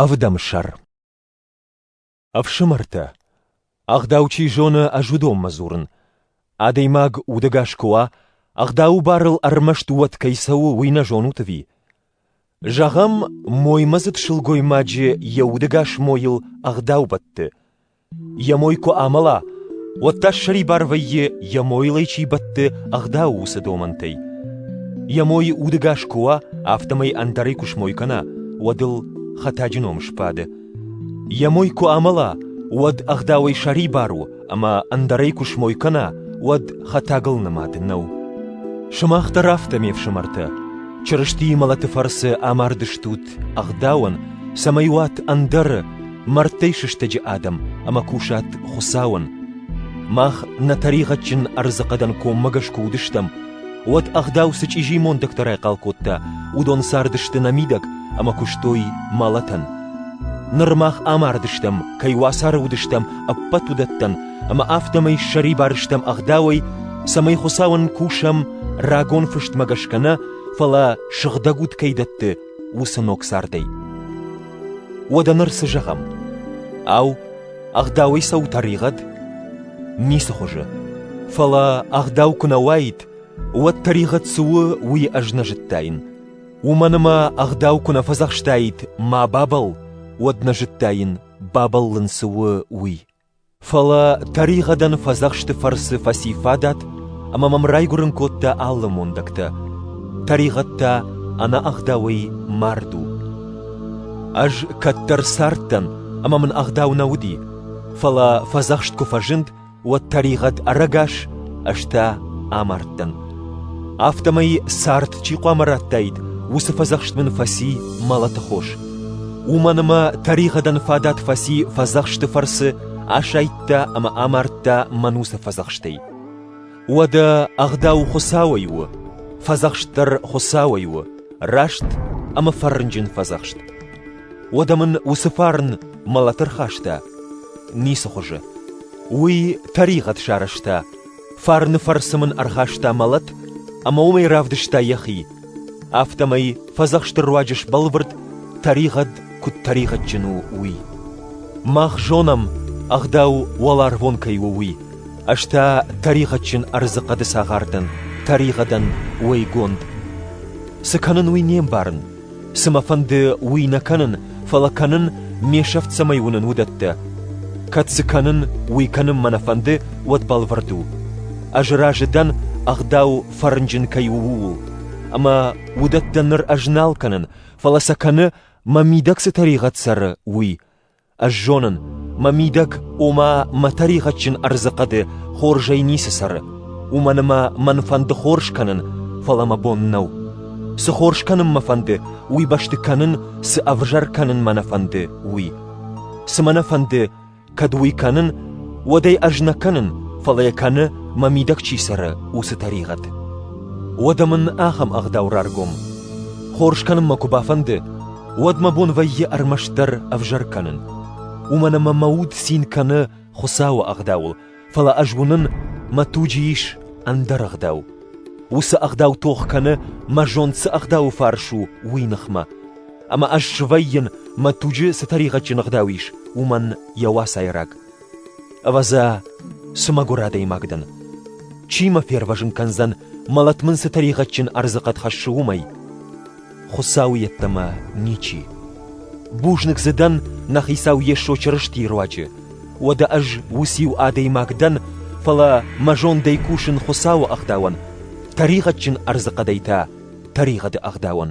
Ӕвдӕмсӕр Ӕфсымӕртӕ, ӕгъдау чи зоны, ӕз уыдонмӕ дзурын. Адӕймаг удӕгас куы уа, ӕгъдауы барыл ӕрмӕст уӕд кӕй цӕуы, уый нӕ зонут ӕви? Зӕгъӕм, моймӕдзыд сылгоймаджы йӕ удӕгас мойыл ӕгъдау бӕтты. Йӕ мой куы амӕла, уӕд та ссӕрибар вӕййы, йӕ мойыл ӕй чи бӕтты, ӕгъдау уыцы домӕнтӕй. Йӕ мой удӕгас куы уа, афтӕмӕй ӕндӕрӕй куы смой кӕна, уӕд ыл хӕтӕджы ном сбады. Йӕ мой куы амӕла, уӕд ӕгъдауӕй сӕрибар у, ӕмӕ ӕндӕрӕй куы смой кӕна, уӕд хӕтӕгыл нымад нӕу. Сымах дӕр афтӕ, ме фсымӕртӕ, Чырыстийы мӕлӕты фӕрцы амардыстут ӕгъдауӕн, цӕмӕй уат ӕндӕры мӕрдтӕй сыстӕджы адӕм ӕмӕ кусат Хуыцауӕн. Мах нӕ тӕригъӕдджын ӕрдзыхъӕдӕн коммӕгӕс куы уыдыстӕм, уӕд ӕгъдау цы чъизи мондӕгтӕ райхъал кодта, уыдон цардысты нӕ мидӕг ӕмӕ куыстой мӕлӕтӕн. Ныр мах амардыстӕм, кӕй уацары уыдыстӕм, ӕппӕт уыдӕттӕн, ӕмӕ афтӕмӕй ссӕрибар стӕм ӕгъдауӕй, цӕмӕй Хуыцауӕн кусӕм рагон фыстмӕ гӕсгӕ нӕ, фӕлӕ сыгъдӕг уд кӕй дӕтты уыцы ног цардӕй. Уӕдӕ ныр цы зӕгъӕм? Ау, ӕгъдауӕй цӕуы тӕригъӕд? Ницы хуызы. Фӕлӕ ӕгъдау куы нӕ уаид, уӕд тӕригъӕд цы у, уый ӕз нӕ зыдтаин. Уымӕн ӕмӕ ӕгъдау куы нӕ фӕдзӕхстаид «ма бабӕл», уӕд нӕ зыдтаин, бабӕллын цы у, уый. Фӕлӕ тӕригъӕдӕн фӕдзӕхсты фӕрцы фӕци фадат ӕмӕ мӕм райгуырын кодта алы мондӕгтӕ. Тӕригъӕд та ӕнӕӕгъдауӕй мард у. Ӕз кӕддӕр цардтӕн, ӕмӕ мын ӕгъдау нӕ уыди, фӕлӕ фӕдзӕхст куы фӕзынд, уӕд тӕригъӕд ӕрӕгас, ӕз та амардтӕн. Афтӕмӕй цард чи хъуамӕ радтаид, уыцы фӕдзӕхст мын фӕци мӕлӕты хос. Уымӕн ӕмӕ тӕригъӕдӕн фадат фӕци фӕдзӕхсты фӕрцы асайдта ӕмӕ амардта мӕн уыцы фӕдзӕхстӕй. Уӕдӕ ӕгъдау Хуыцауӕй у, фӕдзӕхст дӕр Хуыцауӕй у, раст ӕмӕ фӕрнджын фӕдзӕхст. Уӕдӕ мын уыцы фарн мӕлӕты рхаста? Ницы хуызы. Уый тӕригъӕд сарӕзта, Фарны фӕрцы мын ӕрхаста мӕлӕт, ӕмӕ уымӕй равдыста йӕхи. Афтӕмӕй фӕдзӕхсты руаджы сбӕлвырд, тӕригъӕд куыд тӕригъӕдджын у, уый. Мах зонӕм, ӕгъдау уӕларвон кӕй у, уый. Ӕз та тӕригъӕдджын ӕрдзы хъӕды цагъар дӕн, тӕригъӕдӕн уӕйгонд. Цы кӕнын, уый не мбарын, Цы мӕ фӕнды, уый нӕ кӕнын, фӕлӕ кӕнын, ме сӕфт цӕмӕй уынын, уыдӕттӕ. Кӕд цы кӕнын, уый кӕнын мӕ нӕ фӕнды, уӕд бӕлвырд у. Ӕз разы дӕн, ӕгъдау фӕрнджын кӕй у, ууыл. Ӕмӕ уыдӕттӕ ныр ӕз нал кӕнын, фӕлӕ сӕ кӕны, мӕ мидӕг цы тӕригъӕд цӕры, уый. Ӕз зонын, мӕ мидӕг, ома, мӕ тӕригъӕдджын ӕрдзы хъӕды хорзӕй ницы цӕры, уымӕн ӕмӕ мӕн фӕнды хорз кӕнын, фӕлӕ мӕ бон нӕу. Цы хорз кӕнын мӕ фӕнды, уый бӕсты кӕнын, цы ӕвзӕр кӕнын мӕ нӕ фӕнды, уый. Цы мӕ нӕ фӕнды, кӕд уый кӕнын, уӕд ӕй ӕз нӕ кӕнын, фӕлӕ йӕ кӕны, мӕ мидӕг чи цӕры, уыцы тӕригъӕд. Уӕдӕ мын ахӕм ӕгъдау раргом. Хорз кӕнынмӕ куы бафӕнды, уӕд мӕ бон вӕййы ӕрмӕстдӕр ӕвзӕр кӕнын. Уымӕн ӕмӕ мӕ уд цин кӕны Хуыцауы ӕгъдауыл, фӕлӕ ӕз уынын, мӕ туджы ис ӕндӕр ӕгъдау. Уыцы ӕгъдау тох кӕны, мӕ зонд цы ӕгъдауы фарс у, уый ныхмӕ. Ӕмӕ ӕз свӕййын, мӕ туджы цы тӕригъӕдджын ӕгъдау ис, уымӕн йӕ уацайраг. Ӕвӕдза, цы мӕгуыр адӕймаг дӕн! Чи мӕ фервӕзын кӕндзӕн, мӕлӕт мын цы тӕригъӕдджын ӕрдзыхъӕд хӕссы, уымӕй? Хуыцау йеддӕмӕ ничи. Бузныг дзы дӕн, нӕ Хицау Йесо Чырыстийы руаджы. Уӕдӕ ӕз уыциу адӕймаг дӕн, фӕлӕ мӕ зондӕй кусын Хуыцауы ӕгъдауӕн, тӕригъӕдджын ӕрдзыхъӕдӕй та тӕригъӕды ӕгъдауӕн.